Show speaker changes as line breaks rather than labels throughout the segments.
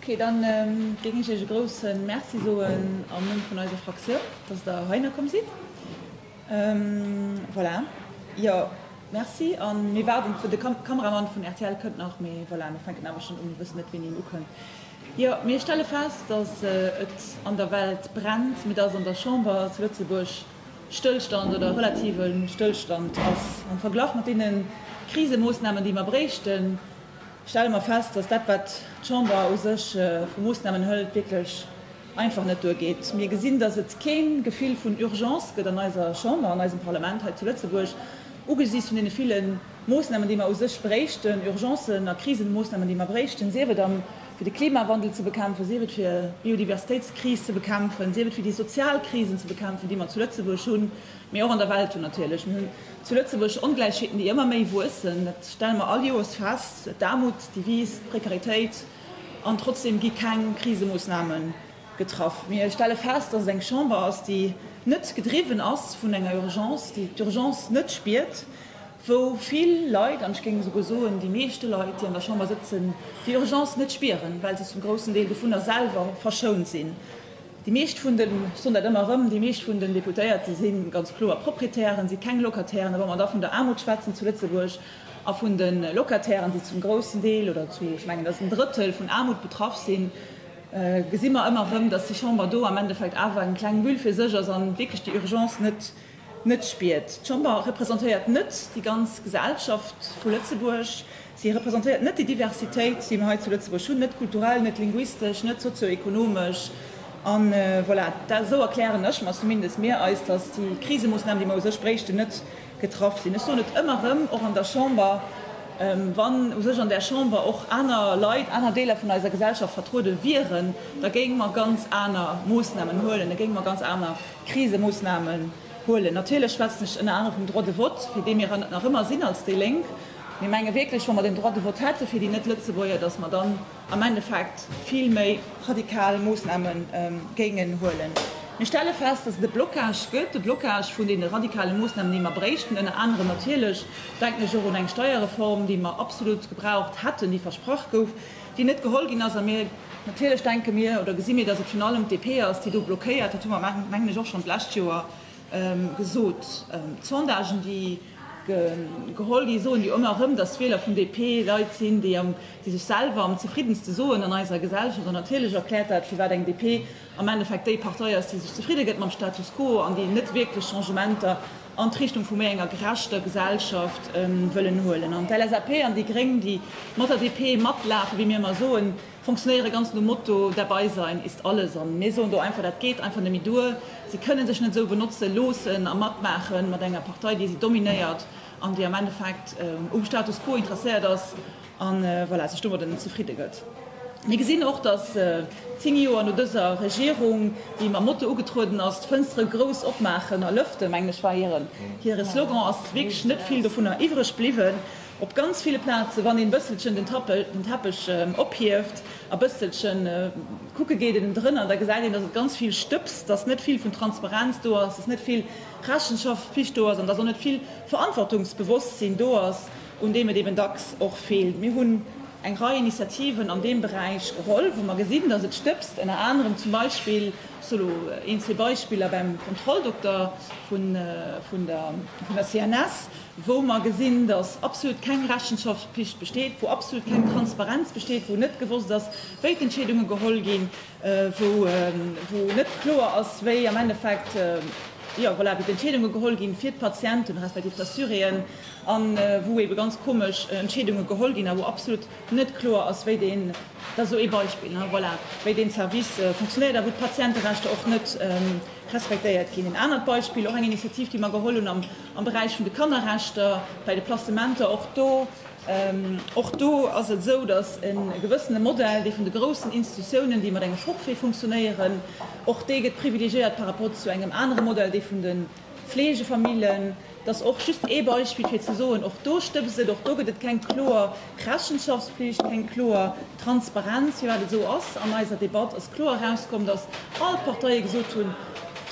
Ok, dann géing ech Iech e grousse Merci soen am Numm vun eiser Fraktioun, dass Der heihinner komm sidd. Voilà, jo, Merci. A mir waarden, de Kameramann vun rtl kënnt nach, mee voilà, mir fänken awer schonn u. Mir wëssen net, wéini en ukënnt. Jo, mir stelle fest, dass et an der Welt brennt, mee dass an der Chamber zu Lëtzebuerg Stëllstand oder relative Stëllstand ass am Verglach mat deene Krisemoossnamen, déi mer bréichten. stelle mer fest, dass dat, wat d'Chamber u sech vu Moosnamen hëlt, wierklech einfach net duergeet. Mir gesinn, dass et kee Gefill vun Urgence gëtt an eiser Chamber, an eisem Parlament hei zu Lëtzebuerg, ugesiichts vun deene ville Moosnamen, déi mer u sech bréichten, Urgencen a Krisenmoosnamen, déi mer bréichten, sief et am fir de Klimawandel ze bekämpfen, sief et fir d'Biodiversitéitskris ze bekämpfen, sief et fir déi sozial Krisen ze bekämpfen, déi mer zu Lëtzebuerg hunn. Mee och an der Welt hunn natierlech, mir hunn zu Lëtzebuerg Ongläichheeten, déi ëmmer méi wuessen. Dat stelle mer all Joers fest, d'Aarmut, déi wiisst, d'Prekaritéit. An trotzdeem gi keng Krisemoossname getraff. Mir stelle fest, dass et eng Chamber ass, déi net gedriwwen ass vun enger Urgence, déi d'Urgence net spiert, wou vill Leit, an ech géing esouguer soen, déi meeschte Leit, déi an der Chamber sëtzen, déi Urgence net spieren, well se zum groussen Deel dovunner selwer verschount sinn. Déi meescht vun den, ech soen dat ëmmer erëm, déi meescht vun den Deputéierte si ganz kloer Proprietären, si keng Locatairen. A wa mer da vun der Aarmut schwätzen zu Lëtzebuerg a vun de Locatairen, déi zum groussen Deel oder zu, ech mengen, et ass en Drëttel, vun Aarmut betraff sinn, gesi mer ëmmer erëm, datt déi Chamber do am Endeffekt awer eng kleng Bulle fir sech ass a wierklech déi Urgence net Net spiert. D'Chamber representéiert net déi ganz Gesellschaft vu Lëtzebuerg. Si representéiert net déi Diversitéit, déi mer hei zu Lëtzebuerg hunn, net kulturell, net linguistesch, net sozio-ekonomesch. A voilà, dat esou erklären ech mer zumindest mir eis, dass déi Krisemoossnamen, déi mer u sech bréichten, net getraff sinn. Ech soen et ëmmer erëm, och an der Chamber, wann u sech an där Chamber och aner Leit, aner Deeler vun eiser Gesellschaft vertruede wieren, da géinge mer ganz aner Moossnamen huelen, da géinge mer ganz aner Krisemoossnamen huelen. Natierlech schwätzen ech ënner anerem vum Droit de vote, fir dee mir ënner nach ëmmer sinn als déi Lénk. Mir menge wierklech, wa mer den Droit de vote hätte fir déi Net-Lëtzebuerger, dass mer dann am Endeffekt vill méi radikal Moossname géingen huelen. Mir stelle fest, dass et e Blocage gëtt, e Blocage vun deene radikale Moossnamen, déi mer bréichten. Ënner anerem natierlech denken ech och un eng Steierreform, déi mer absolut gebraucht hätten, déi versprach gouf. déi net geholl ginn ass, a mir natierlech denke mir oder gesi mir, dass et virun allem d'DP ass, déi do blockéiert, dat hu mer, mengen ech, och schonn d'lescht Joer gesot. D'Sondagen, déi geholl gi soen jo ëmmer erëm, dass d'Wieler vun DP Leit sinn, déi sech selwer am zefriddenste soen an eiser Gesellschaft, an natierlech erkläert dat, firwat eng DP am Endeffekt déi Partei ass, déi sech zefridde gëtt mam Status quo an déi net wierklech Changementer an d'Richtung vu méi enger gerechter Gesellschaft wëllen huelen. An d'LSAP an déi Gréng, déi mat der DP matlafen, wéi mir ëmmer soen, fonctionnéiere ganz nom Motto Dabeisein ist alles. An mir soen do einfach, dat geet einfach net méi duer. Si kënne sech net esou benotze loossen a matmaache mat enger Partei, déi si dominéiert an déi am Endeffekt um Status quo interesséiert ass. a voilà, sech domadden zefridde gëtt. Mir gesinn och, datt zéng Joer no dëser Regierung, déi mam Motto ugetrueden ass, d'Fënstere grouss opmaachen a lëften, mengen ech, war hire Slogan, ass wierklech net vill dovunner iwwreg bliwwen. Op ganz ville Plaze, wann een e bësselchen den Teppech ophieft a e bësselche kucke geet ënnen drënner, da gesäit een, datt et ganz vill stëbst, datt net vill vun Transparenz do ass, datt net vill Rechenschaftspflicht do ass an datt och net vill Verantwortungsbewosstsinn do ass. un deem et eben dacks och feelt. Mir hunn eng Rei Initiativen an deem Beräich geholl, wou mer gesinn, dass et stëbst, ënner anerem zum Beispill, ech soe lo een, zwee Beispiller, beim Kontrolldokter vun der CNS, wou mer gesinn, dass absolut keng Rechenschaftspflicht besteet, wou absolut keng Transparenz besteet, wou net gewosst ass, wéi d'Entscheedunge geholl ginn, wou net kloer ass, wéi am Endeffekt d'Entscheedunge geholl ginn, fir d'Patienten respektiv d'Assuréen, a wou ebe ganz komesch Entscheedunge geholl ginn a wou absolut net kloer ass, wéi deen, dat ass esou ee Beispill, voilà, wéi deen Service funktionéiert a wou d'Patienterechter och net respektéiert ginn. Een anert Beispill, och eng Initiativ, déi mer geholl hunn am Beräich vun de Kannerrechter, bei de Placementer, och do, Och do ass et esou, datt e gewëssene Modell, dee vun de groussen Institutiounen, déi mat engem Forfait funktionéieren, och dee gëtt privilegiéiert par rapport zu engem anere Modell, dee vun de Fleegefamillen. Datt och just ee Beispill, fir ze soen, Och do stëbst et, och do gëtt et keng kloer Rechenschaftspflicht, keng kloer Transparenz, firwat et esou ass. An eiser Debatt ass kloer erauskomm, datt all d'Parteie gesot hunn,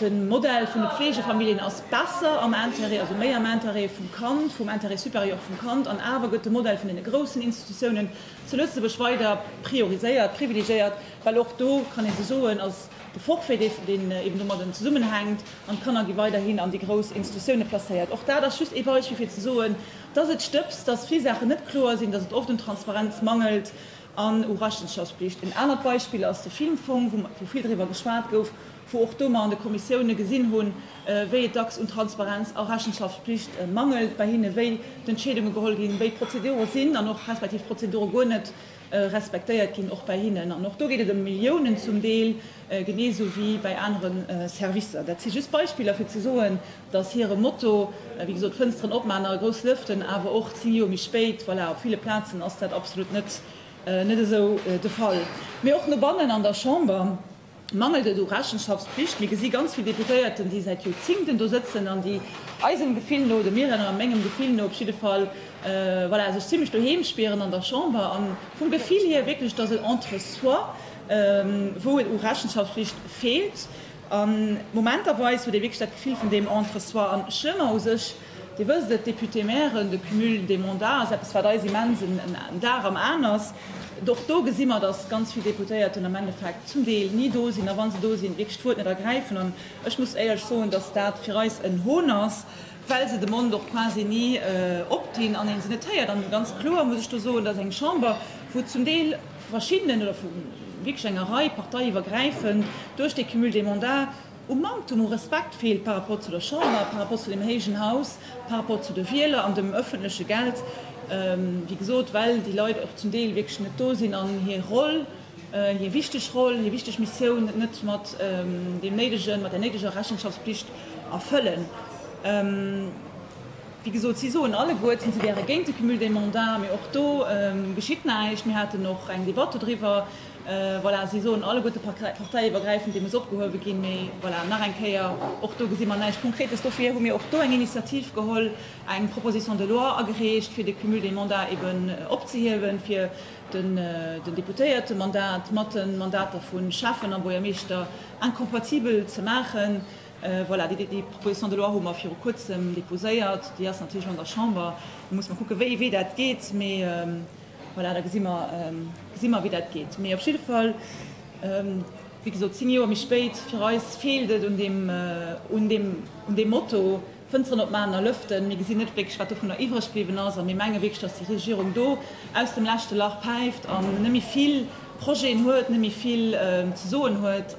De Modell vun de Pflegefamilljen ass besser am Intérêt, also méi am Intérêt vum Kand, vum Intérêt supérieur vum Kand, an awer gëtt de Modell vun deene groussen Institutiounen zu Lëtzebuerg weider prioriséiert, privilegiéiert, well och do kann ee se soen, ass de Forfait, dee, deen eben domadden zesummenhänkt, an d'Kanner gi weiderhin an déi grouss Institutioune placéiert. Och dat ass just ee Beispill, fir ze soen, dass et stëbst, dass vill Saachen net kloer sinn, dass et oft un Transparenz mangelt. an u Rechenschaftspflicht. En anert Beispill ass de Filmfong, wou vill driwwer geschwat gouf, wou och do mer an de Kommissioune gesinn hunn, wéi et dacks un Transparenz a Rechenschaftspflicht mangelt bei hinne, wéi d'Entscheedunge geholl ginn, wéi d'Prozedure sinn an och respektiv d'Prozedure guer net respektéiert ginn och bei hinnen. An och do geet et ëm Milliounen zum Deel, genee esou wéi bei anere Servicer. Dat si just Beispiller, fir ze soen, dass hire Motto, wéi gesot, Fënsteren opmaachen a grouss lëften, awer och zéng Joer méi spéit, voilà, op ville Plazen ass dat absolut net esou de Fall. Mee och no bannen an der Chamber mangelt et u Rechenschaftspflicht. Mir gesi ganz vill Deputéierten, déi säit Joerzingten do sëtzen an déi, eisem Gefill no, dem hiren a mengem Gefill no op jidde Fall, voilà, sech zimlech doheem spieren an der Chamber a vum Gefill hir wierklech, dass et entre soi, wou et u Rechenschaftspflicht feelt. A momenterweis huet ee wierklech dat Gefill vun deem Entre-soi. An ech hunn mer u sech, Dir wësst et, Députés-Mairen, de Cumul des mandats ass eppes, wat eis immens en Dag am Aen ass. Och do gesi mer, datt ganz vill Deputéierten am Endeffekt zum Deel ni do sinn, a wa se do sinn, wierklech d'Wuert net ergräifen. An ech muss éierlech soen, datt dat fir eis en Hohn ass, well se de Mond och quasi ni opdinn an ee se net héiert. An ganz kloer muss ech do soen, datt eng Chamber, wou zum Deel, vu verschiddenen oder vu wierklech enger Rei parteiiwwergräifend duerch dee Cumul des mandats u Manktum u Respekt feelt par rapport zu der Chamber, par rapport zu deem héijen Haus, par rapport zu de Wieler an dem öffentleche Geld, wéi gesot, well déi Leit och zum Deel wierklech net do sinn an hir Roll, hir wichteg Roll, hir wichteg Missioun net mat deem néidegen, mat där néideger Rechenschaftspflicht erfëllen. Wéi gesot, si soen alleguer ten, si wäre géint de Cumul des mandats, mee och do geschitt näischt. Mir haten och eng Debatt dodriwwer. Voilà, si soen alleguer, de parteiiwwergräifend, dee muss opgehuewe ginn. Mee voilà, nach eng Kéier, och do gesi mer näischt Konkretes. Dofir hu mir och do eng Initiativ geholl, eng Proposition de loi agereecht, fir de Cumul des mandats eben opzehiewen, fir den Deputéiertemandat mat de Mandater vu Schäffen a Buergermeeschter incompatibel ze maachen. Voilà, déi Proposition de loi hu mer viru Kuerzem déposéiert. Déi ass natierlech an der Chamber. Da muss mer kucken, wéi, wéi dat geet. Mee voilà, da gesi mer, gesi mer, wéi dat geet. Mee op jidde Fall, wéi gesot, zéng Joer méi spéit, fir eis feelt et un deem, un deem, un deem Motto, Fënsteren op Maten a Lëften. Mir gesinn net wierklech, wat dovunner iwwreg bliwwen ass. A mir menge wierklech, dass déi Regierung do aus dem leschte Lach päift an net méi vill Projeten huet, net méi vill ze soen huet.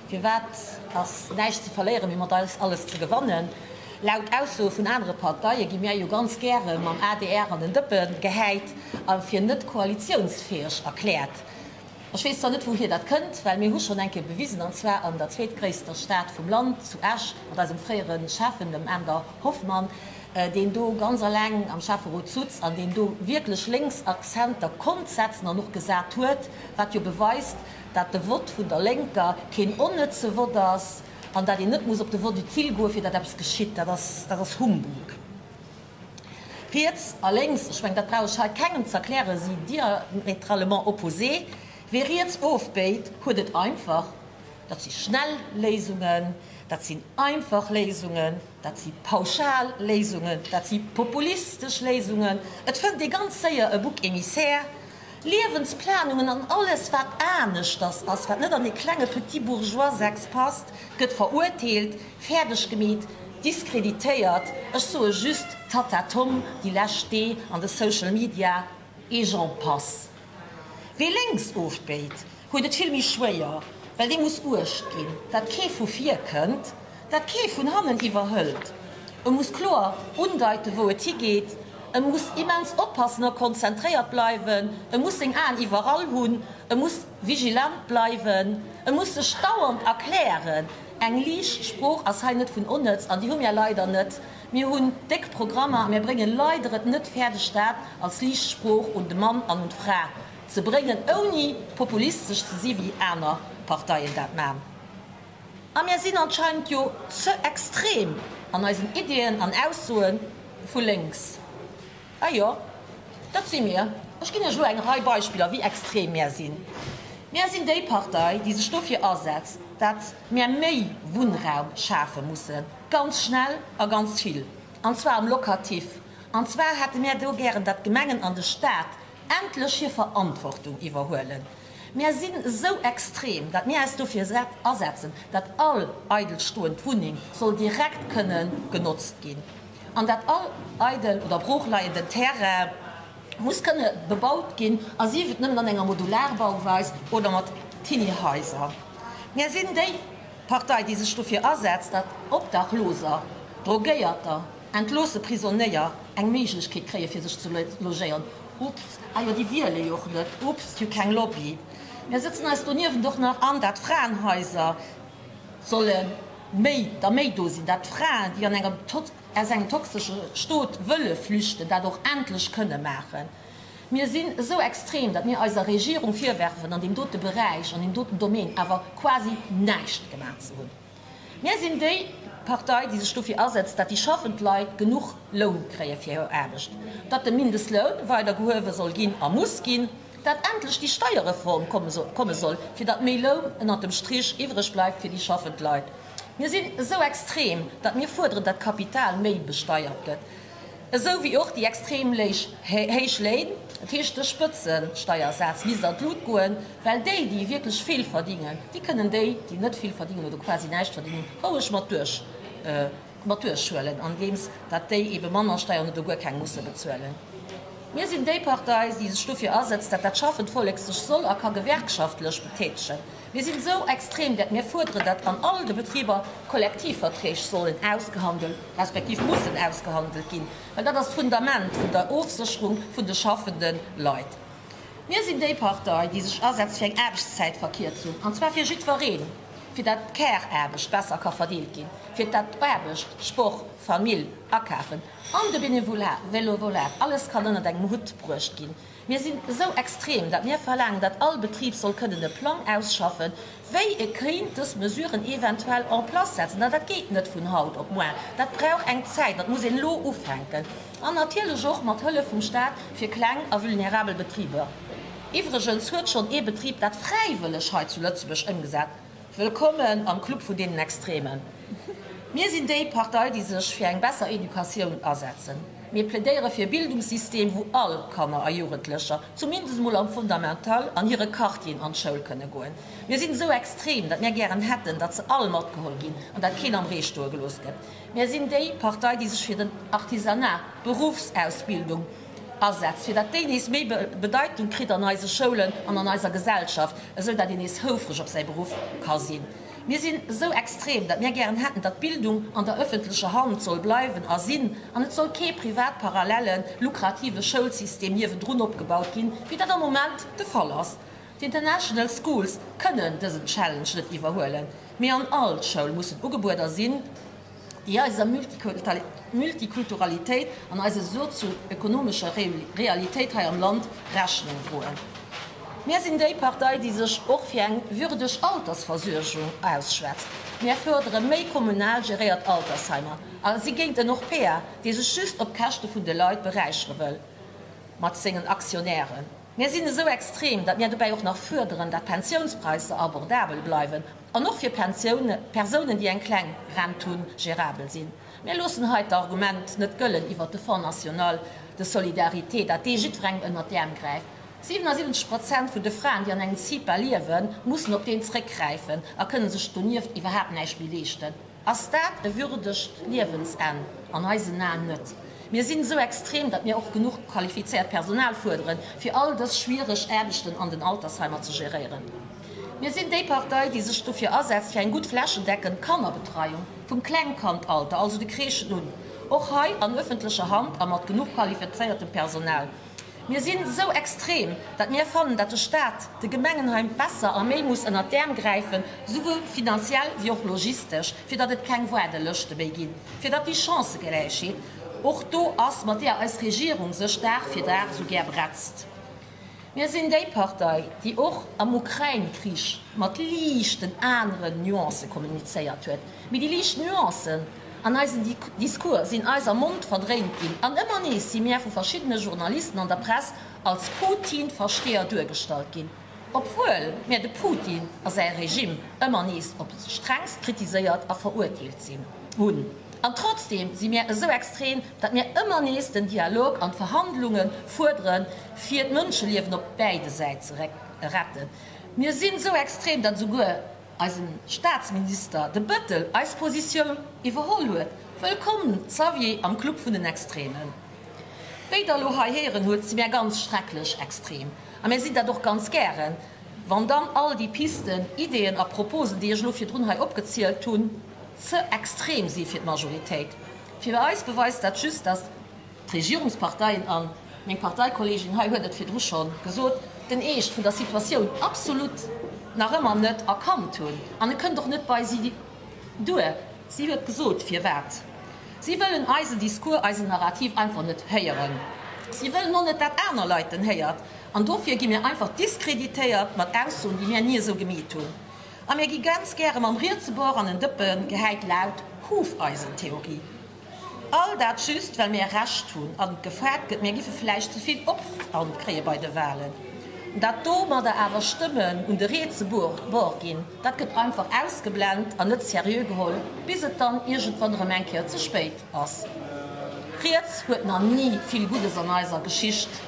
Firwat ass näischt ze verléieren, mee mat eis alles ze gewannen? Laut Aussoe vun anere Parteie gi mär jo ganz gäre mam adr an den Dëppen gehäit a fir net koalitiounsfäeg erkläert. Ech weess zwar net, wouhier dat kënnt, well mir hu schonn eng Kéier bewisen, an zwar an der zweetgréisster Stad vum Land, zu Esch, mat eisem fréiere Schäffen, dem Änder Hoffmann, deen do ganz aleng am Schäfferot sutz an deen do wierklech lénks Akzenter konnt setzen an och gesat huet, wat jo beweist, dat de Vott vun der Lénker keen onnëtze Vott ass an dat een net muss op de Vott utile goen, fir datt eppes geschitt, dat ass, dat ass Humbug. Riets a lénks, ech mengen, dat brauch ech hei kengem ze erklären, si diametralement opposé. Wie riets ofbéit, huet et einfach. Dat si schnell Léisungen, dat sinn einfach Léisungen, dat si pauschal Léisungen, dat si populistesch Léisungen. Et fënnt ee ganz séier e Bouc émissaire, Liewensplanungen an alles wat aneschters ass, wat net an ee klenge petit bourgeois Sex passt, gëtt verurteelt, fäerdeg gemeet, diskreditéiert, ech soe just Tatatom déi lescht Dee an de Social Media, et j'en passe. Wee lénks ofbéit, huet et vill méi schwéier, well dee muss uecht ginn, datt kee vu vir kënnt, datt kee vun hannen iwwerhëlt. E muss kloer undeiten, wou et higeet, e muss immens oppassen a konzentréiert bleiwen, e muss seng Aen iwwerall hunn, e muss vigilant bleiwen, e muss sech dauernd erklären. Eng liicht Sprooch ass hei net vun onnëtz, an déi hu mir leider net. Mir hunn déck Programmer a mir brénge leider et net fäerdeg, dat als liicht Sprooch un de Mann an un d'Fra ze bréngen, ouni populistesch ze si wéi aner Parteien dat man. A mir sinn anscheinend jo ze extrem an eisen Iddien an Aussoe vu lénks. A jo, dat si mir. Ech ginn Iech elo eng Rei Beispiller, wéi extrem mir sinn. Mir sinn déi Partei, déi sech dofir asetzt, dat mir méi Wunnraum schafe mussen, ganz schnell a ganz vill, an zwar am Locatif. An zwar hätte mir do gären, dat d'Gemengen an de Stat, endlech hir Verantwortung iwwerhuelen. Mär sinn esou extrem, datt mir äis dofir asetzen, datt all eidelstoend Wunneng soll direkt kënne genotzt ginn an datt all eidel oder broochleienden Terrain muss kënne bebaut ginn, a sief et nëmmen an enger Modularbauweis oder mat Tiny Haiser. Mär sinn déi Partei, déi sech dofir asetzt, datt Obdachloser, Drogéierter, Entloosse Prisonéier eng Méiglechkeet kréie fir sech ze logéieren. Ups, ah jo, déi wiele jo och net. Ups, jo keng Lobby. Mir sëtzen eis doniewent och nach an, dat Fraenhaiser solle méi, da méi do sinn, dat Fraen, déi an engem, aus engem toxesche Stot wëlle flüchten, dat och endlech kënne maachen. Mir sinn esou extrem, datt mir eiser Regierung virwerfen, an deem dote Beräich, an deem doten Domaine awer quasi näischt gemaach ze hunn. Mir sinn déi Partei, déi sech dofir asetzt, datt déi schaffend Leit genuch Loun kréie fir hir Aarbecht, datt de Mindestloun weider gehuewe soll ginn a muss ginn, datt endlech déi Steierreform komme soll, fir datt méi Loun ënnert dem Strich iwwereg bleift fir déi schaffend Leit. Mir sinn esou extrem, datt mir fuerderen, datt d'Kapital méi besteiert gëtt. esou wéi och déi extrem héich Léin, dat heescht de Spëtzesteiersaz misst an d'Lut goen, well déi, déi wierklech vill verdingen, déi kënnen déi, déi net vill verdingen oder quasi näischt verdingen, roueg mat duerchhuelen, andeems datt déi ebe manner Steieren oder guer keng musse bezuelen. Mir sinn déi Partei, déi sech dofir asëtzt, datt dat schaffend Vollek sech soll a ka gewerkschaftlech betätegen. Mir sinn esou extrem, dat mir fuerderen, dat an all de Betriber Kollektivverträg sollen ausgehandelt, respektiv mussen ausgehandelt ginn, well dat ass d'Fundament vun der Ofsécherung vun de schaffende Leit. Mir sinn déi Partei, déi sech asetzt fir eng Aarbechtszäitverkierzung, an zwar fir jiddwereen, fir dat d'Care-Aarbecht besser ka verdeelt ginn, fir dat d'Aarbecht, Sport, Famill, Akafen an de Benevolat, Vélovolat, alles kann ënnert engem Hutt bruecht ginn. Mir sinn esou extrem, datt mir verlaangen, datt all Betrib soll kënnen e Plang ausschaffen, wéi e kéint dës Mesuren eventuell en place setzen. Dat geet net vun haut op muer, dat brauch eng Zäit, dat muss een elo ufänken an natierlech och mat Hëllef vum Staat fir kleng a vulnerabel Betriber. Iwwregens huet schonn ee Betrib dat fräiwëlleg hei zu Lëtzebuerg ëmgesat. Wëllkommen am Club vun deenen Extremen. Mir sinn déi Partei, déi sech fir eng besser Educatioun asetzen. Mir plädéiere fir e Bildungssystem, wou all Kanner a Jugendlecher, zumindest emol am Fundamental, an hire Quartieren an d'Schoul kënne goen. Mir sinn esou extrem, datt mir gären hätten, datt se all matgeholl ginn an datt keen am Ree stoe gelooss gëtt. Mir sinn déi Partei, déi sech fir den Artisanat, d'Beruffsausbildung, asetzt, fir datt déi nees méi Bedeitung kritt an eise Schoulen an an eiser Gesellschaft, esou datt een nees houfreg op säi Beruff ka sinn. Mir sinn esou extrem, datt mir gären hätten, datt d'Bildung an der ëffentlecher Hand soll bleiwen a sinn an et soll kee privat parallele lukrative Schoulsystem niewendrun opgebaut ginn, wéi dat am Moment de Fall ass. D'International Schools kënnen dësen Challenge net iwwerhuelen, mee an all Schoul mussen Ugebueder sinn, déi eiser Multikulturalitéit an eiser sozio-ekonomescher Realitéit hei am Land Rechnung droen. Mir sinn déi Partei, déi sech och fir eng würdeg Altersversuergung ausschwätzt. Mir fuerdere méi kommunal geréiert Altersheimer a si géint en Orpea, dee sech just op Käschte vun de Leit beräichere wëll mat sengen Aktionären. Mir sinn esou extrem, datt mir dobäi och nach fuerderen, datt d'Pensiounspraisser abordabel bleiwen an och fir Persounen, déi eng kleng Rent hunn, gérabel sinn. Mir loossen hei d'Argument net gëllen iwwert de Fonds national de solidarité, datt dee jiddwerengem ënnert d'Äerm gräift. 77 Prozent vun de Fraen, déi an engem CIPA liewen, mussen op deen zeréckgräifen a kënne sech donieft iwwerhaapt näischt méi leeschten. Ass dat e würdegt Liewensenn? An eisen Aen net. Mir sinn esou extrem, datt mir och genuch qualifizéiert Personal fuerderen, fir all dës schwiereg Aarbechten an den Altersheimer ze geréieren. Mir sinn déi Partei, déi sech dofir asetzt, fir eng gutt flächendeckend Kannerbetreiung, vum Klengkandalter, also de Crèchen un, och hei an öffentlecher Hand a mat genuch qualifizéiertem Personal. Mir sinn esou extrem, datt mir fannen, datt de Staat de Gemengen hei besser a méi muss ënnert d'Äerm gräifen, souwuel finanziell wéi och logistesch, fir datt et keng Waardelëschte méi ginn, fir datt déi Chancëgläichheet och do ass, mat deeër eis Regierung sech Dag fir Dag esou gär bretzt. Mir sinn déi Partei, déi och am Ukrain-Krich mat liichten aneren Nuancë kommunizéiert huet, mee déi liicht Nuancen, An eisen Discours sinn eis am Mond verdréint ginn an ëmmer nees si mir vu verschiddene Journalisten an der Press als Putin-Versteeër duergestallt ginn, obwuel mir de Putin a säi Regime ëmmer nees op strengst kritiséiert a verurteelt hunn. An trotzdeem si mir esou extrem, datt mir ëmmer nees den Dialog an d'Verhandlunge fuerdere fir d'Mënscheliewen op bäide Säite ze retten. Mir sinn esou extrem, datt esouguer eisen Staatsminister De Bettel eis Positioun iwwerholl huet. Wëllkomm Xavier am Club vun den Extremen. Wéi der elo hei héieren hutt, si mär ganz schrecklech extrem a mär sinn dat och ganz gären. Wann dann all déi Pisten, Ideeën a Proposen, déi ech elo virdrun hei opgezielt hunn, ze extrem si fir d'Majoritéit, fir eis beweist dat just, datt d'Regierungsparteien an. Meng Parteikollegin hei huet et virdru scho gesot, den Eescht vun der Situatioun absolut nach ëmmer net erkannt hunn. An e kënnt och net bei si duer. Si huet gesot, firwat. Si wëllen eisen Discours, eisen Narrativ einfach net héieren. Si wëllen och net, dat aner Leit en héiert. An dofir gi mir einfach diskreditéiert mat Aussoen, déi mir ni esou gemeet hunn. A mir gi ganz gäre mam Rietsebor an en Dëppen gehäit, laut Hufeisentheorie. All dat just well mir Recht hunn an et gefragt gëtt, mir giffe vläicht ze vill Opwand kréie bei de Walen. Dat domadder awer Stëmmen un de rietse Bord ginn, dat gëtt einfach ausgeblent an net seriö geholl, bis et dann iergendwann erëm eng Kéier ze spéit ass. Riets huet nach ni vill Guddes an eiser Geschicht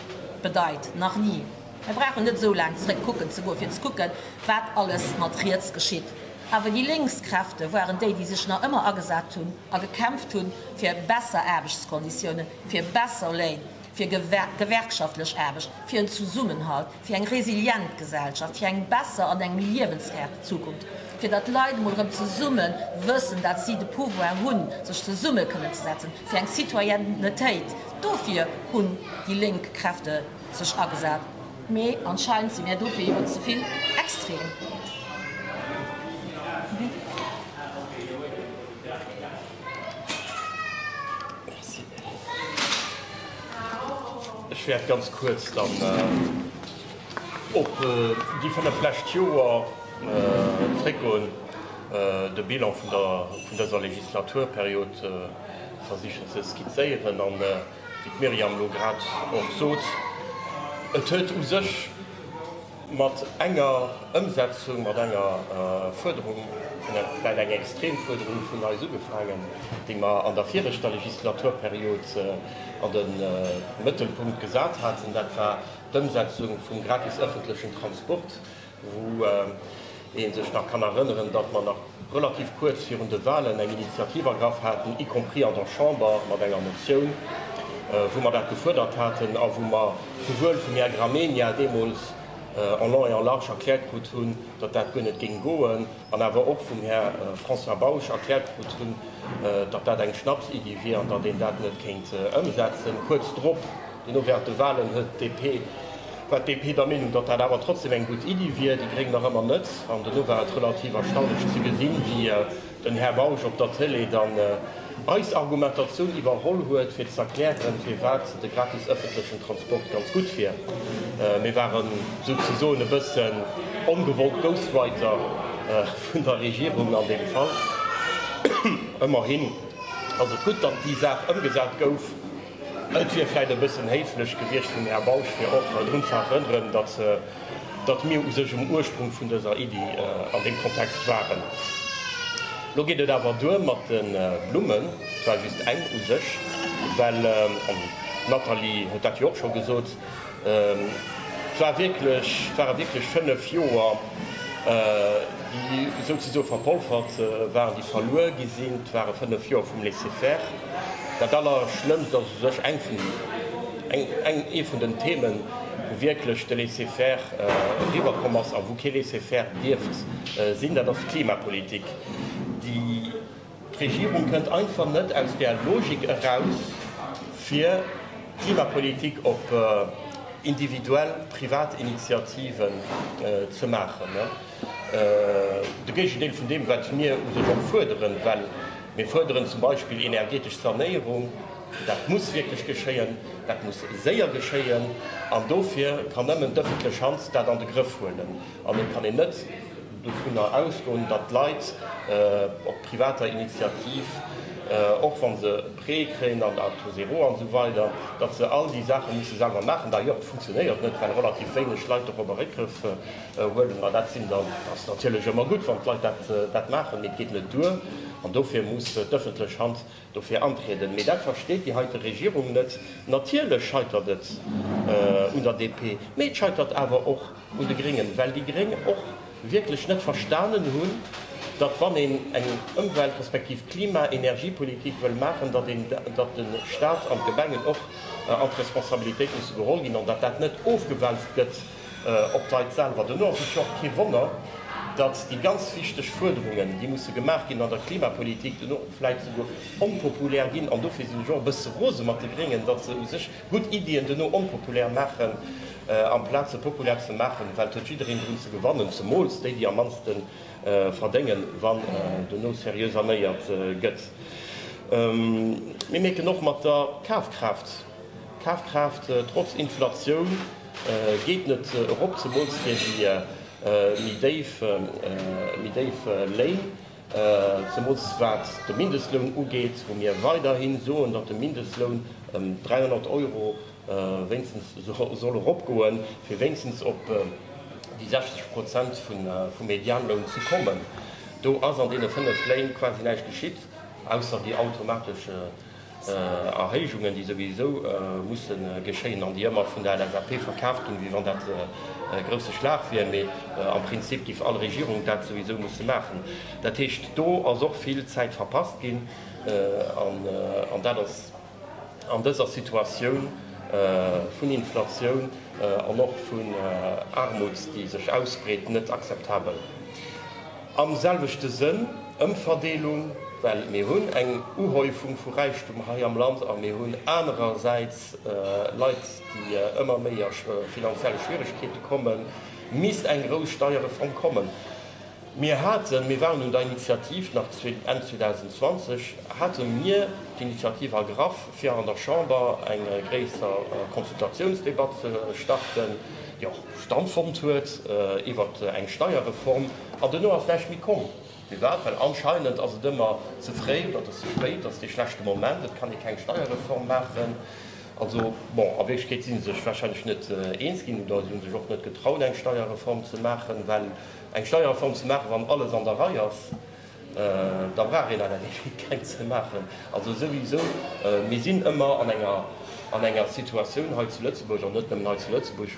bedeit, nach ni. Mir brauchen net esou laang zeréck kucken ze goen, fir ze kucken, wat alles mat riets geschitt. Awer déi lénks Kräfte waren déi, déi sech nach ëmmer agesat hunn. a gekämpft hunn fir besser Aarbechtskonditiounen, fir besser Léin, fir gewerkschaftlech Aarbecht, fir en Zesummenhalt, fir eng resilient Gesellschaft, fir eng besser an eng méi liewenswäert Zukunft, fir datt d'Leit emol erëm zesumme wëssen, datt si de Pouvoir hunn, sech zesumme kënnen ze setzen, fir eng Citoyennetéit. Dofir hunn déi lénk Kräfte sech agesat. Mee anscheinend si mir dofir iwwer ze vill extrem.
Ech wäert ganz kuerz dann op déi fënnef lescht Joer zréckgoen, de Bilan vun dëser Legislaturperiod versichen ze skizéieren. A wéi d'Myriam elo grad och sot, et huet u sech, Mat enger Ëmsetzung, mat enger Fuerderung, vläicht eng extrem Fuerderung vun eis ugefaangen, déi mer an der viregter Legislaturperiod an de Mëttelpunkt gesat haten, dat war d'Ëmsetzung vum gratis ëffentlechen Transport, wou een sech nach kann erënneren, datt mer nach relativ kuerz virun de Wahlen eng Initiativ ergraff haten, y compris an der Chamber mat enger Motioun, wou mer dat gefuerdert haten a wou mer souwuel vum Här Gramegna deemools en long et en large erkläert krut hunn, datt dat guer net géing goen, an awer och vum Här François Bausch erkläert krut hunn, datt dat eng Schnapsiddi wier an datt een dat net kéint ëmsetzen. Kuerz drop. Duerno während de Wahlen huet DP, war d'DP der Meenung, datt dat awer trotzdem eng gutt Iddi wier, déi Gréng nach ëmmer net. An duerno war et relativ erstaunlech ze gesinn, wéi den Här Bausch op der Tëlee dann eis Argumentatioun iwwerholl huet, fir z'erklären, firwat de gratis ëffentlechen Transport ganz gutt wier. Mir waren esou ze soen e bësse ongewollt Ghostwriter vun der Regierung an deem Fall. Ëmmerhin ass et gutt, datt déi Saach ëmgesat gouf. Et wier vläicht e bëssen héiflech gewiescht vum Här Bausch, fir och drun ze erënneren, datt mir u sech um Ursprung vun dëser Iddi an deem Kontext waren. Elo geet et awer duer mat de Blummen. Et war just eng u sech, well, an d'Nathalie huet dat jo och scho gesot, Et war wierklech, et ware wierklech fënnef Joer, déi souzesoe verpolfert waren, déi verluer gi sinn. Et ware fënnef Joer vum Laisser-faire. Dat Allerschlëmmst ass u sech eng vun, eng, eng, ee vun den Themen, wou wierklech de Laisser-faire eriwwer komm ass a wou kee Laisser-faire dierft sinn, dat ass d'Klimapolitik, déi, D'Regierung kënnt einfach net aus där Logik eraus, fir d'Klimapolitik op individuell, privat Initiativen ze maachen, de Géigendeel vun deem, wat mir u sech och fuerderen. Well mir fuerderen zum Beispill energetesch Sanéierung. Dat muss wierklech geschéien, dat muss séier geschéien, an dofir kann nëmmen d'ëffentlech Hand dat an de Grëff huelen an et kann een net, dovunner ausgoen, datt d'Leit op privater Initiativ, och wa se e Prêt kréien an der Taux zéro an esou weider, datt se all déi Saache musse selwer maachen. D'ailleurs, et funktionéiert net, well relativ wéineg Leit dorobber Réckgrëff huelen. Ma dat sinn dann, dat ass natierlech ëmmer gutt, wann d'Leit dat maachen, mee et geet net duer. An dofir muss d'ëffentlech Hand dofir antrieden, mee dat versteet déi heite Regierung net. Natierlech scheitert et un der DP, mee et scheitert awer och un de Gréngen, well déi Gréng och wierklech net verstanen hunn, datt wann een eng Ëmwelt-, respektiv Klima-, Energiepolitik wëll maachen, datt een, datt de Stat an d'Gemengen och an d'Responsabilitéit musse geholl ginn an datt dat net ofgewälzt gëtt Op d'Leit selwer dono ass et jo och kee Wonner, datt déi ganz wichteg Fuerderungen, déi musse gemaach ginn an der Klimapolitik, dono vläit souguer onpopulär ginn. An dofir sinn ech och e bësse rose mat de Gréngen, datt se u sech gutt Iddien dono onpopulär maachen, amplaz se populär ze maachen, well et huet jiddereen drun ze gewannen, zemools déi, déi am mannste verdéngen, wann dono seriö sanéiert gëtt. Mir mierken och mat der Kafkraaft, d'Kafkraaft, trotz Inflatioun, Geet net erop, zemools fir déi méi déif Léin, zemools wat de Mindestloun ugeet, wou mir weiderhi soen, datt de Mindestloun ëm 300 Euro wéinstens soll eropgoen, fir wéinstens op déi 60 Prozent vum Medianloun ze kommen. Do ass an deene fënnef Léin quasi näischt geschitt, ausser déi automatesch. Erhéijungen, déi souwisou musse geschéien an déi ëmmer vun der LSAP verkaaft ginn, wéi wann dat e grousse Schlag wier. Mee am Prinzip géif all Regierung dat souwisou musse maachen. Dat heescht, do ass och vill Zäit verpasst ginn an dat ass an dëser Situatioun vun Inflatioun an och vun Aarmut, déi sech ausbreet, net akzeptabel. Am selwechte Sënn, Ëmverdeelung, well mir hunn eng Uhäufung vu Räichtum hei am Land a mir hunn anerersäits Leit, déi ëmmer méi a finanzielle Schwieregkeete kommen, misst eng grouss Steierreform kommen. Mir haten, mir waren un der Initiativ, nach Enn 2020 hate mir d'Initiativ ergraff, fir an der Chamber eng gréisser Consultatiounsdebatt ze starten. Stand fonnt huet iwwer eng Steierreform an duerno ass näischt méi komm. Firwat? Well anscheinend ass et ëmmer ze fréi, dat ass ze spéit, dat ass dee schlechte Moment, et kann ee keng Steierreform maachen. Also, bon, a Wierklechkeet si se sech warscheinlech net eens ginn oder si hu sech och net getraut, eng Steierreform ze maachen. Well eng Steierreform ze maachen, wann alles an der Rei ass, Da brauch een awer definitiv keng ze maachen. Also souwisou, mir sinn ëmmer an enger Situatioun hei zu Lëtzebuerg, an net nëmmen hei zu Lëtzebuerg,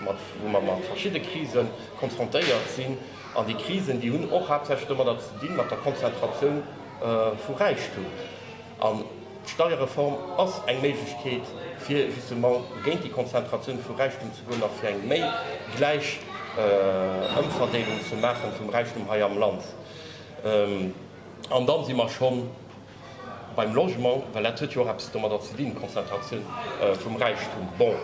wou mer mat verschidde Krise konfrontéiert sinn. An déi Krisen, déi hunn och haaptsächlech domadder ze dinn, mat der Konzentratioun vu Räichtum. D'Steierreform ass eng Méiglechkeet, fir justement géint déi Konzentratioun vu Räichtum ze goen a fir eng méi gläich Ëmverdeelung ze maache vum Räichtum hei am Land. An dann si mer scho beim Logement, well dat huet jo och eppes domadder ze dinn, d'Konzentratioun vum Räichtum. Bon,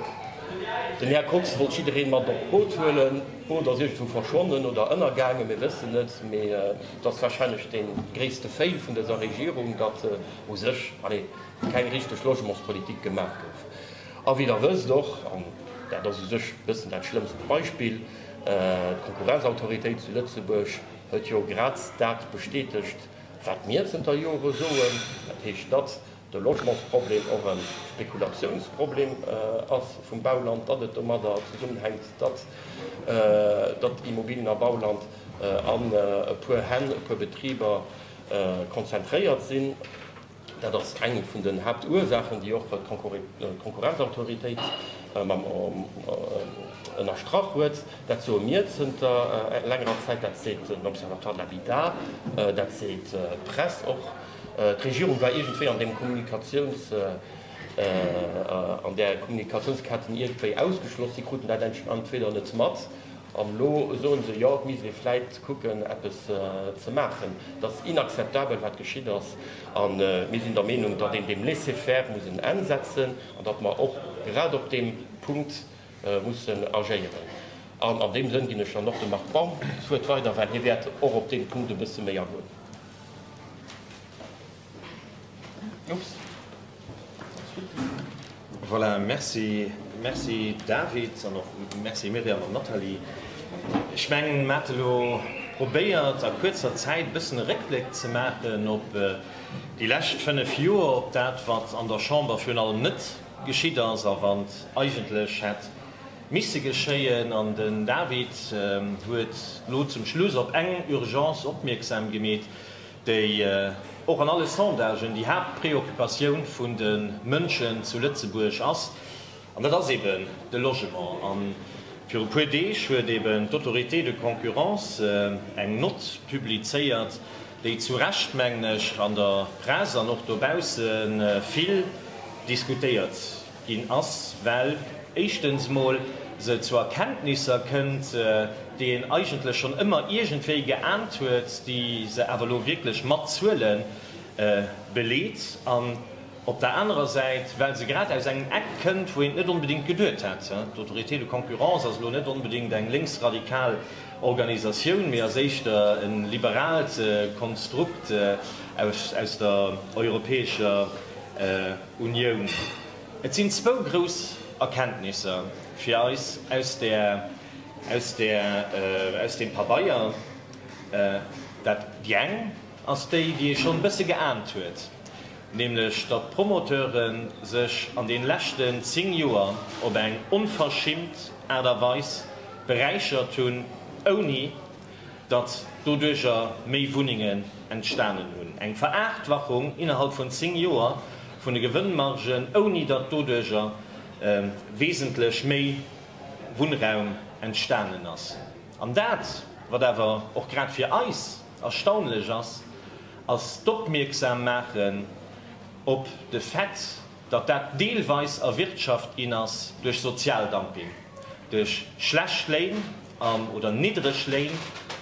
den Här Kox wollt jidderee mat op d'Boot huelen. D'Boot ass iergendwou verschwonnen oder ënnergaangen, mir wëssen et. Mee et ass warscheinlech dee gréisste Fail vun dëser Regierung, datt u sech keng richteg Logementspolitik gemaach gouf. A wéi Der wësst och, an dat ass u sech e bëssen dat schlëmmst Beispill, d'Konkurrenzautoritéit zu Lëtzebuerg huet jo grad dat bestätegt, wat mir zënter Jore soen, dat heescht, datt de Logementsproblem och e Spekulatiounsproblem ass vum Bauland, datt et domadder zesummenhänkt, datt Immobilen a Bauland an e puer Hänn, e puer Betriber konzentréiert sinn. Dat ass eng vun den Haaptursaachen, déi och d'Konkurrenzautoritéit ënnerstrach huet. Dat soe mir zënter längerer Zäit, dat seet den Observatoire de l'habitat, dat seet d'Press och. D'Regierung war iergendwéi an deem Kommunikatiouns, an där Kommunikatiounsketten iergendwéi ausgeschloss. Si kruten dat entweder net mat An elo soen se, jo, et misst ee vläit kucken, eppes ze maachen. Et ass inakzeptabel, wat geschitt ass. A mir sinn der Meenung, datt een deem Laisser-faire muss en Enn setzen an datt mer och grad op deem Punkt mussen agéieren. An an deem Sënn ginn ech dann och dem Marc Baum d'Wuert weider, well hie wäert och op dee Punkt e bësse méi agoen.
Voilà, merci, merci David an och merci Myriam an Nathalie. Ech mengen, mer hat elo probéiert a kuerzer Zäit e bëssen e Réckbléck ze maachen op déi lescht fënnef Joer, op dat wat an der Chamber virun allem net geschitt ass a wat eigentlech hätt misse geschéien. An den David huet elo zum Schluss op eng Urgence opmierksam gemeet, déi och an alle Sondagen déi Haaptpreoccupatioun vun de Mënschen zu Lëtzebuerg ass, an dat ass eeben de Logement. A viru e puer Deeg huet eeben d'Autorité de concurrence eng Nott publizéiert, déi zu Recht, mengen ech, an der Press an och dobausse vill diskutéiert ginn ass, well éischtens mol se zu Erkenntnisser kënnt, déi een eigentlech schonn ëmmer iergendwéi geaant huet, déi se awer elo wierklech mat Zuele beleet, an op der anerer Säit, well se grad aus engem Eck kënnt, wou een et net onbedéngt geduet hätt. D'Autorité de concurrence ass elo net onbedéngt eng lénksradikal Organisatioun, mee ass éischter e liberaalt Konstrukt aus der europäescher. Unioun. Et sinn zwou grouss Erkenntnisser fir eis aus deem Pabeier. Déi eng ass déi, déi ee schonn e bësse geahnt huet, nämlech datt d'Promoteure sech an deene leschten zéng Joer op eng onverschimmt Aart a Weis beräichert hunn, ouni, datt doduercher méi Wunnengen entstanen hunn, eng Verachtwachung innerhalb vun zéng Joer vun de Gewënnmargen, ouni datt doduercher wesentlech méi Wunnraum entstanen ass. An dat, wat awer och grad fir eis erstaunlech ass, ass d'Opmierksam maache op de Fait, datt dat deelweis erwirtschaft ginn ass duerch Sozialdumping, duerch schlecht Léin, Arm oder niddreg Léin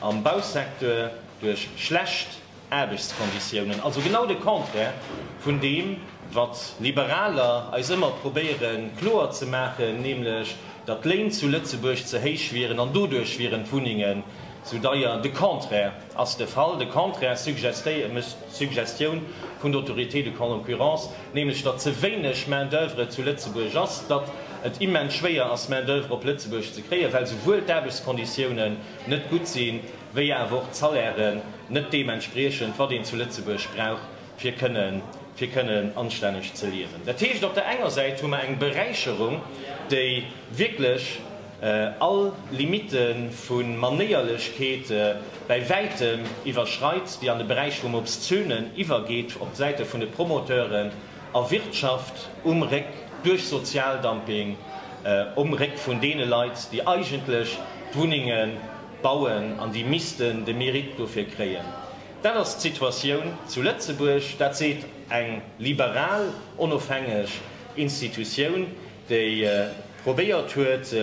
am Bausecteur duerch schlecht Aarbechtskonditiounen, also genau de Contraire vun deem, wat Liberaler eis ëmmer probéiere kloer ze maachen, nämlech datt d'Léin zu Lëtzebuerg ze héich wieren an doduerch wieren d'Wunnengen esou deier. De Contraire! Ass de Fall de Contraire, Suggestioun vun der Autorité de concurrence, nämlech datt ze wéineg Main d'oeuvre zu Lëtzebuerg ass, datt et immens schwéier ass Main d'oeuvre op Lëtzebuerg ze kréien, well souwuel d'Aarbechtskonditiounen net gutt sinn, wéi awer och d'Salairen net deem entspriechen, wat een zu Lëtzebuerg brauch, fir kënnen anstänneg ze liewen. Dat heescht, op der enger Säit hu mer eng Beräicherung, déi wierklech. all Limitte vu Manéierlechkeete bäi wäitem iwwerschreit, déi an de Beräich vum Obszönen iwwergeet, op Säite vun de Promoteuren a Wirtschaft um Réck, duerch Sozialdumping um Réck vun deene Leit, déi eigentlech d'Wunnenge bauen an déi missten de Mérite dofir kréien. Dat ass d'Situatioun zu Lëtzebuerg. Dat seet eng liberal, onofhängeg Institutioun, déi probéiert huet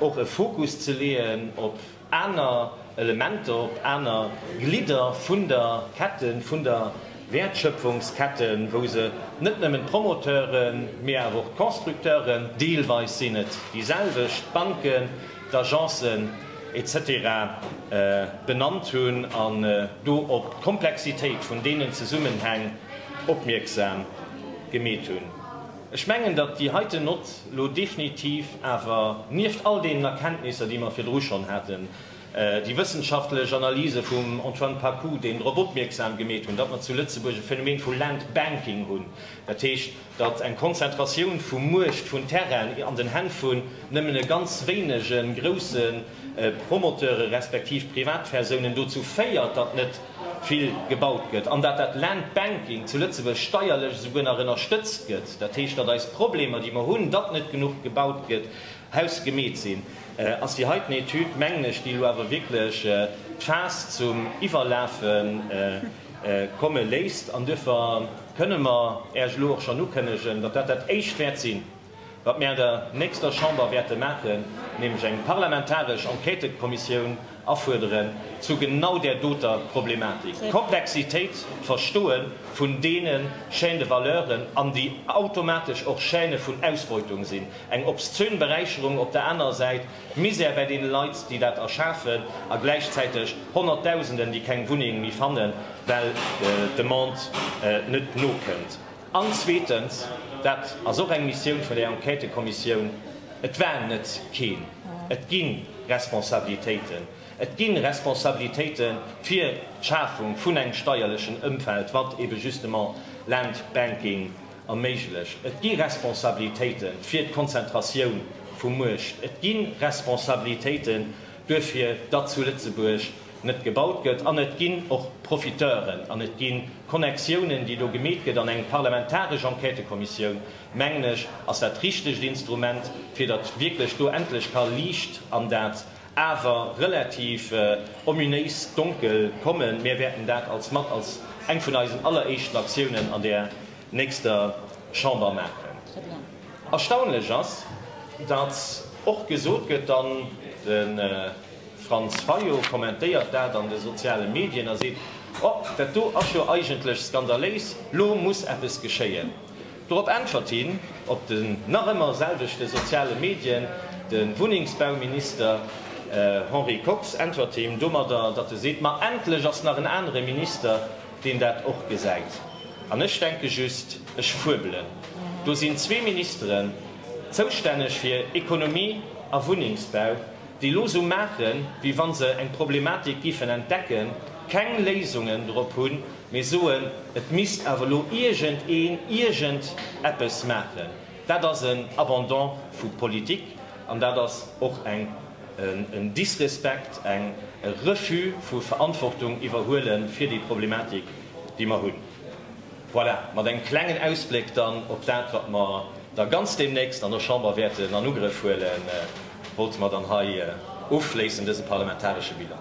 och e Fokus ze leeën op aner Elementer, op aner Glidder vun der Ketten, vun der Wäertschöpfungsketten, wou se net nëmmen d'Promoteuren, mee awer och d'Constructeuren deelweis sinn et déi selwecht, d'Banken, d'Agencen, etc. Benannt hunn an do op d'Komplexitéit vun deenen Zesummenhäng opmierksam gemeet hunn. Ech mengen, datt déi heiten Nott elo definitiv awer, nieft all deenen Erkenntnisser, déi mer virdru schonn haten, déi wëssenschaftlech Analyse vum Antoine Pacou, deen drop opmierksam gemeet hunn, datt mer zu Lëtzebuerg e Phänomen vu Land Banking hunn, dat heescht, datt eng Konzentratioun vu Muecht, vun Terrainen an den Hänn vun nëmmen e ganz wéinege grousse Promoteure respektiv Privatpersounen dozou féiert, datt net vill gebaut gëtt an datt dat Land Banking zu Lëtzebuerg steierlech esouguer nach ënnerstëtzt gëtt. Dat heescht, datt eis Problemer, déi mer hunn, datt net genuch gebaut gëtt, hausgemeet sinn, ass déi heiten Etüd, mengen ech, déi elo awer wierklech d'Faass zum Iwwerlafe komme léisst. An duerfir kënne mer Äech elo och schonn ukënnegen, datt dat dat Éischt wäert sinn, wat mir an der nächster Chamber wäerte maachen, nämlech eng parlamentaresch Enquêtëkommissioun afuerderen zu genau där doter Problematik, d'Komplexitéit, d'Verstoe vun deene Chaînes de valeuren an déi automatesch och Chaînë vun Ausbeutung sinn, eng obszön Beräicherung op der anerer Säit, d'Misär bäi deene Leit, déi dat erschafen, a gläichzäiteg Honnertdausenden, déi keng Wunneng méi fannen, well d'Demande net nokënnt. An zweetens, dat ass och eng Missioun vun der Enquêtëkommissioun, et war net keen, et gi Responsabilitéiten, et gi Responsabilitéite fir d'Schafung vun engem steierlechen Ëmfeld, wat ebe justement Landbanking erméiglecht, et gi Responsabilitéite fir d'Konzentratioun vu Muecht, et gi Responsabilitéite duerfir datt zu Lëtzebuerg net gebaut gëtt, an et ginn och Profiteuren an et gi Connectiounen, déi do gemeet gëtt, an eng parlamentaresch Enquêtëkommissioun, mengen ech, ass dat richtegt Instrument, fir datt wierklech do endlech ka Liicht an dat awer relativ ominéis Donkel kommen. Mir wäerten dat als mat als eng vun eisen alleréischten Aktiounen an där nächster Chamber maachen. Erstaunlech ass, datt och gesot gëtt, an de Franz Fayot kommentéiert dat an de soziale Medien a seet, Oh, dat do ass jo eigentlech skandaléis, lo muss eppes geschéien. Dorop äntwert him op den nach ëmmer selwechte soziale Medien de Wunnengsbauminister Henri Kox äntwert him domadder, datt e seet, Ma endlech ass nach en anere Minister deen dat och gesäit. An ech denke just, ech fuebelen, do sinn zwee Ministeren zoustänneg fir Ekonomie a Wunnengsbau, déi elo esou maachen, wéi wa se eng Problematik géifen entdecken, keng Léisungen drop hunn, mee soen, et misst awer elo iergendeen iergend eppes maachen. Dat ass en Abandon vu Politik an dat ass och en Disrespekt, e Refus vu Verantwortung iwwerhuele fir déi Problematik, déi mer hunn. Voilà, mat engem klengen Ausbléck dann op dat, wat mer da ganz deemnächst an der Chamber wäerten an Ugrëff huelen, wollte mer dann hei ofschléissen dëse parlamentaresche Bilan.